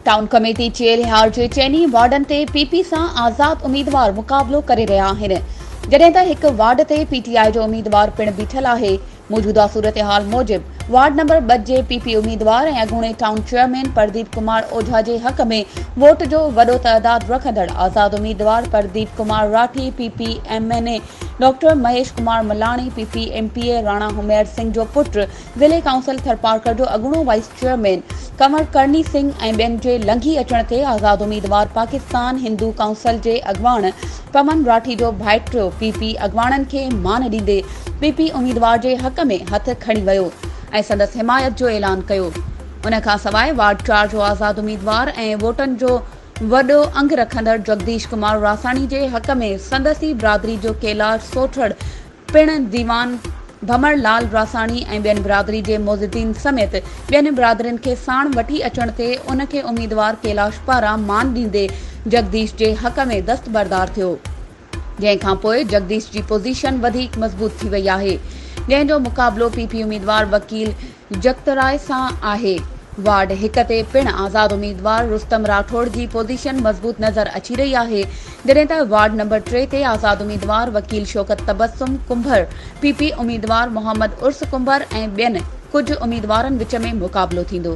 Town committee Chelhar جي چئني وارڊن تي پي پي سان آزاد اميدوار مقابلو ڪري رهيا آهن جڏهن ته هڪ وارڊ تي پي ٽي آء جو اميدوار پڻ بيٺل آهي موجوده صورتحال موجب وارڊ نمبر ٻه جي پي پي اميدوار ۽ اڳوڻي ٽائون چيئرمين پرديپ ڪمار اوجها جي حق ۾ ووٽ جو وڏو تعداد رکندڙ آزاد اميدوار Pradeep Kumar Rathi, P P M N A doctor Mahesh Kumar Malani, P P M P A Rana Hamir Singh جو پٽ، ضلعي ڪائونسل ٿرپارڪر جو اڳوڻو وائيس چيئرمين ڪنور ڪرڻي سنگهه ۽ ٻين جي لنگهي اچڻ تي آزاد اميدوار پاڪستان هندو ڪائونسل جي اڳواڻ پون راٺيجو ڀائٽريو پي پي اڳواڻن کي مان ڏيندي پي پي اميدوار جي حق ۾ هٿ کڻي ويو ۽ سندس حمايت جو اعلان ڪيو ان کان سواء وارڊ چار جو آزاد اميدوار ۽ ووٽن جو وڏو انگ رکندڙ جگديش ڪمار راساڻي جي حق ۾ سندس ئي برادري جو ڪيلاش سوٽهڙ پڻ ديوان ڀمر لعل راساڻي ۽ ٻين برادري جي معززين سميت ٻين برادرين کي ساڻ وٺي اچڻ تي ان کي اميدوار ڪيلاش پاران مان ڏيندي جگديش جي حق ۾ دستبردار ٿيو جنهن کان پوء جگديش جي پوزيشن وڌيڪ مضبوط ٿي وئي آهي جنهن جو مقابلو پي پي اميدوار وڪيل جکتراء سان آهي. وارڊ هڪ تي پڻ آزاد اميدوار رستم راٺوڙ جي پوزيشن مضبوط نظر اچي رهي آهي، جڏهن ته وارڊ نمبر ٽي تي آزاد اميدوار وڪيل شوڪت تبسم ڪنڀر، پي پي اميدوار محمد عرس ڪنڀر ۽ ٻين ڪجهه اميدوارن وچ ۾ مقابلو ٿيندو.